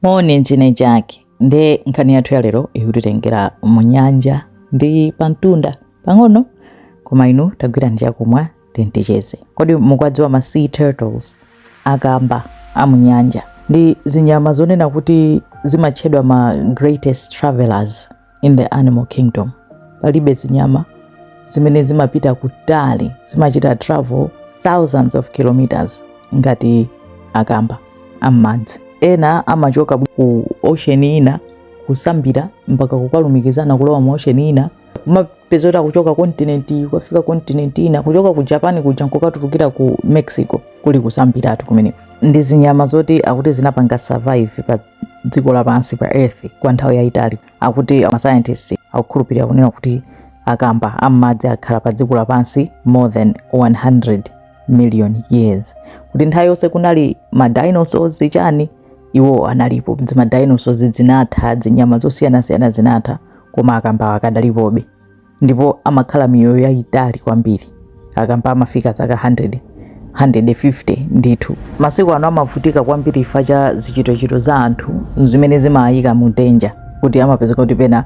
Moni ndine Jack ndiye nkhani yathu ya lero ikutitengera mu nyanja ndi pamtunda pang'ono koma inu tagwirani chakumwa tinticheze kodi mukwadziwa ma sea turtles akamba a mu nyanja ndi zinyama zonena kuti zimatchedwa ma greatest travelers In the animal kingdom, palibe zinyama zimene zimapita kutali, zimachita travel thousands of kilometers ngati akamba am'madzi. Ena amachoka ku ocean ina kusambira mpaka kukalumikizana kulowa mu ocean ina kumapezeka kuti akuchoka kontinenti kukafika kontinenti ina kuchoka ku Japan kuja nkukatulukira ku Mexico kuli kusambiratu kumeneko. Ndi zinyama zoti akuti zinapanga survive pa dziko lapansi pa earth kwa nthawi yayitali akuti masayantisti akukhulupirira kunena kuti akamba am'madzi akhala pa dziko lapansi more than 100 million years kuti nthawi yonse kunali ma dinosaurs chani iwo analipo zima dinosaurs zinatha zinyama zosiyanasiyana zinatha koma akamba akadalipobe ndipo amakhala miyoyo yayitali kwambiri akamba amafika zaka 100 150 ndithu masiku ano amavutika kwambiri chifukwa cha zichitochito za anthu zimene zimayika mu danger kuti amapezeka kuti pena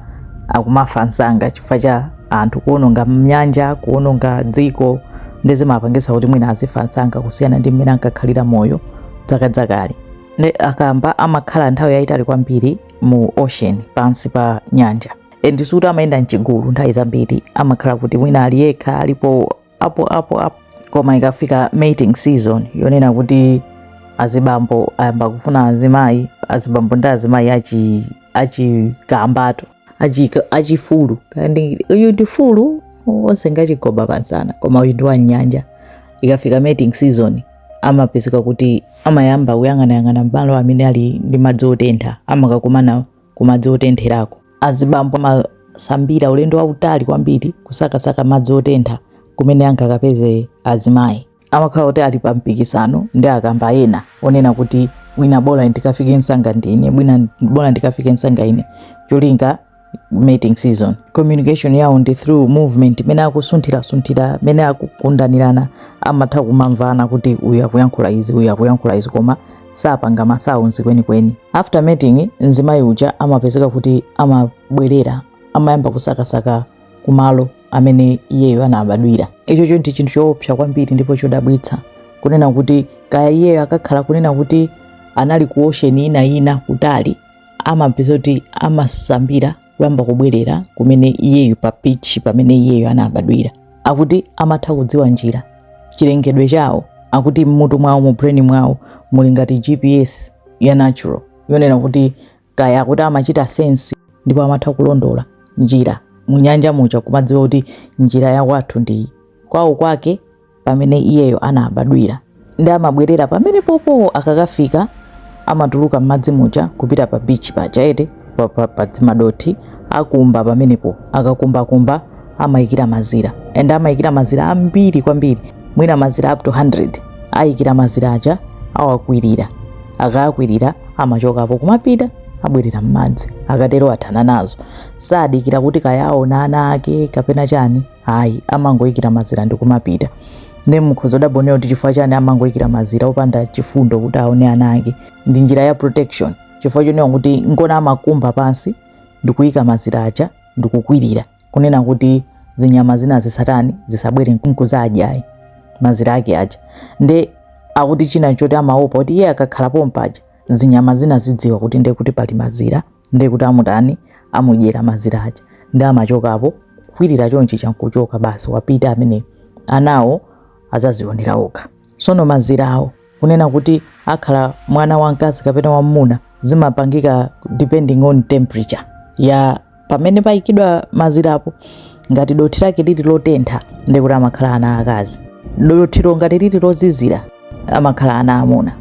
akumafa msanga chifukwa cha anthu kuononga mnyanja kuononga dziko ndi zimapangisa kuti mwina azifa msanga kusiyana ndi mmene ankakhalira moyo zakazakale ndi akamba amakhala nthawi yayitali kwambiri mu ocean pansi pa nyanja and sikuti amayenda mchigulu nthawi zambiri amakhala kuti mwina ali yekha alipo apo apo apo koma ikafika mating season yonena kuti azibambo ayamba kufuna azimayi azibambo ndi azimayi achi achikambatu achika- achifulu kandi uyu ndi fulu onse ngachigoba pamsana koma uyu ndi wa nyanja ikafika mating season amapezeka kuti amayamba kuyang'anayang'ana malo amene ali ndi madzi otentha amakakumana kumadzi otentherako. Azibambo amasambira ulendo wautali kwambiri kusakasaka madzi otentha kumene angakapeze azimayi. Amakhala oti ali pa mpikisano ndi akamba ena onena kuti mwina bola ndikafike msanga ndine, mwina bola ndikafike msanga ine, cholinga mating season. Communication yawo ndi through movement, mmene akusunthirasunthira, mmene akugundanirana, amatha kumamvana kuti uyu akuyankhula izi, uyu akuyankhula izi koma sapanga masounds kwenikweni after mating mzimayi uja amapezeka kuti amabwerera amayamba kusakasaka kumalo amene iyeyo anabadwira ichocho ndi chinthu choopsa kwambiri ndipo chodabwitsa kunena kuti kaya iyeyo akakhala kunena kuti anali ku ocean ina ina kutali amapezeka kuti amasambira kuyamba kubwerera kumene iyeyo pa beach pamene iyeyo anabadwira akuti amatha kudziwa njira chilengedwe chawo akuti mmutu mwawo mu brain mwawo muli ngati gps ya natural yonena kuti kaya akuti amachita sense ndipo amatha kulondola njira munyanja muja kumadziwa kuti njira ya kwathu ndi iyi kwawo kwake pamene iyeyo anabadwira nde amabwerera pamenepopo akakafika amatuluka m'madzi muja kupita pa bichi paja ete pa- pa- pa dzimadothi akumba pamenepo akakumbakumba amayikira mazira and amayikira mazira ambiri kwambiri mwina mazira up to 100 ayikira mazira aja awakwirira akayakwirira amachokapo kumapita abwerera m'madzi akatero athana nazo sadikira kuti kaya aona ana ake kapena chani ayi amangoyikira mazira ndikumapita nde mukhoza kudabwa kunena kuti chifukwa chani amangoyikira mazira opanda chifundo kuti aone ana ake ndi njira ya protection chifukwa chonena kuti ngona amakumba pansi ndikuyika mazira aja ndikukwirira kunena kuti zinyama zina zisatani zisabwere nkuzadya mazira ake aja nde akuti china choti amaopa kuti iye akakhala pompaja zinyama zina zidziwa kuti ndiye kuti pali mazira ndiye kuti amutani amudyera mazira aja nde amachokapo kwirira chonchija nkuchoka basi wapita amene anawo azazionera okha sono mazira awo kunena kuti akhala mwana wamkazi kapena wamuna zimapangika depending on temperature ya pamene payikidwa mazirapo ngati dothi lake lili lotentha ndiye kuti amakhala ana akazi dothilo ngati lili lozizira amakhala ana amuna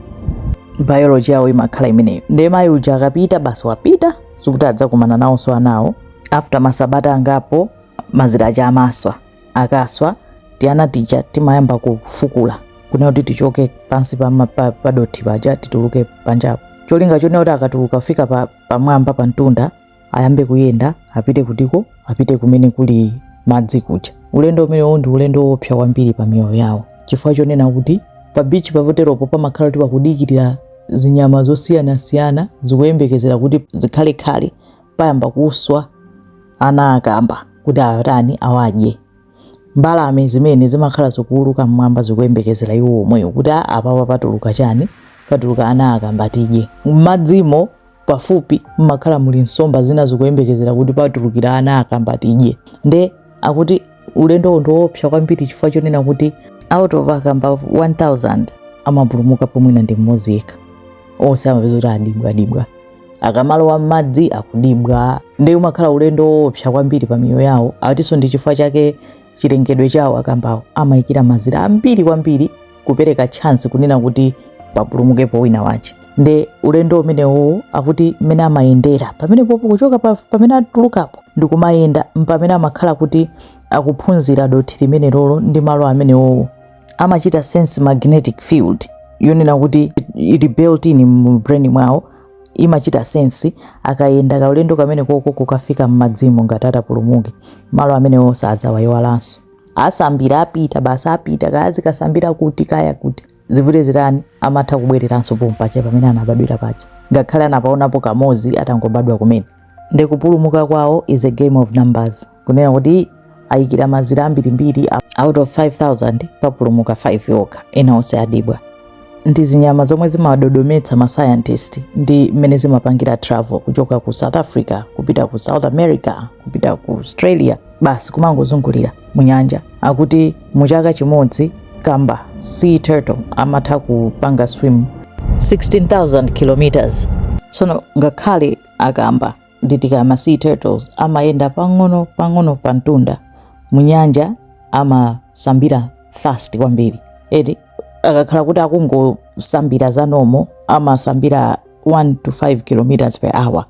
biology yawo imakhala imeneyo ndiye mayi uja akapita basi wapita sikuti adzakumana nawonso anawo after masabata angapo mazira aja amaswa akaswa tiana tija timayamba kufukula kunena kuti tichoke pansi pa, ma- pa, pa dothi paja tituluke panjapo cholinga chonena kuti akatuluka kufika pa, pamwamba pa mtunda ayambe kuyenda apite kutiko apite kumene kuli madzi kuja ulendo umenewo ndi ulendo woopsa kwambiri pa miyoyo yawo chifukwa chonena kuti pa bichi poteropo pamakhala kuti pakudikirira zinyama zosiyanasiyana zikuyembekezera kuti zikhale khale payamba kuswa ana akamba kuti atani awadye mbalame zina zimakhala zikuuluka mmwamba zikuyembekezera iwo omwewo kuti Ah, apapa patuluka chani patuluka ana akamba tidye mmadzimo pafupi mmakhala muli nsomba zina zikuyembekezera kuti patulukira ana akamba tidye nde akuti ulendowo ndiwoopsa kwambiri chifukwa chonena kuti out of akamba 1000 amapulumukapo mwina ndi mmodzi yekha onse amapeza kuti adyibwadyibwa akamalowa m'madzi akudyibwa nde umakhala ulendo woopsa kwambiri pa miyoyo yawo atinso ndi chifukwa chake chilengedwe chawo akambawo amayikira mazira ambiri kwambiri kupereka chance kunena kuti papulumukepo wina wache nde ulendo umenewo akuti mmene amayendera pamenepopo kuchoka pa- pamene atulukapo ndikumayenda m'pamene amakhala kuti akuphunzira dothi limenelolo ndi malo amenewowo amachita sense magnetic field yonena kuti ili built in mu brain mwawo imachita sense akayenda kaulendo kamenekoko kukafika m'madzimo ngati atapulumuke malo amenewo sadzawayiwalanso asambira apita basi apita kaya zikasambira kuti kaya kuti zivute zitani amatha kubwereranso pompaja pamene anabadwira paja ngakhale anapaonapo kamozi atangobadwa kumene nde kupulumuka kwawo is a game of numbers kunena kuti ayikira mazira ambirimbiri out of 5000 papulumuka 5 yokha ena onse adyedwa ndi zinyama zomwe zimadodometsa ma scientist ndi mmene zimapangira travel kuchoka ku south africa kupita ku south america kupita ku australia basi kumangozungulira mu nyanja akuti mu chaka chimodzi kamba sea turtle amatha kupanga swim 16000 kilometers tsono ngakhale akamba nditi kaya ma sea turtles amayenda pang'ono pang'ono pa mtunda mu nyanja amasambira fast kwambiri eti akakhala kuti akungosambira za nomo amasambira 1 to 5 kilometers per hour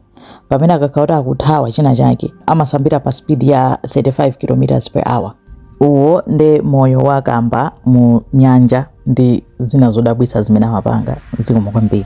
pamene akakhala kuti akuthawa china chake amasambira pa speed ya 35 kilometers per hour uwo nde moyo wa kamba mu nyanja ndi zina zodabwitsa zimene amapanga zikomo kwambiri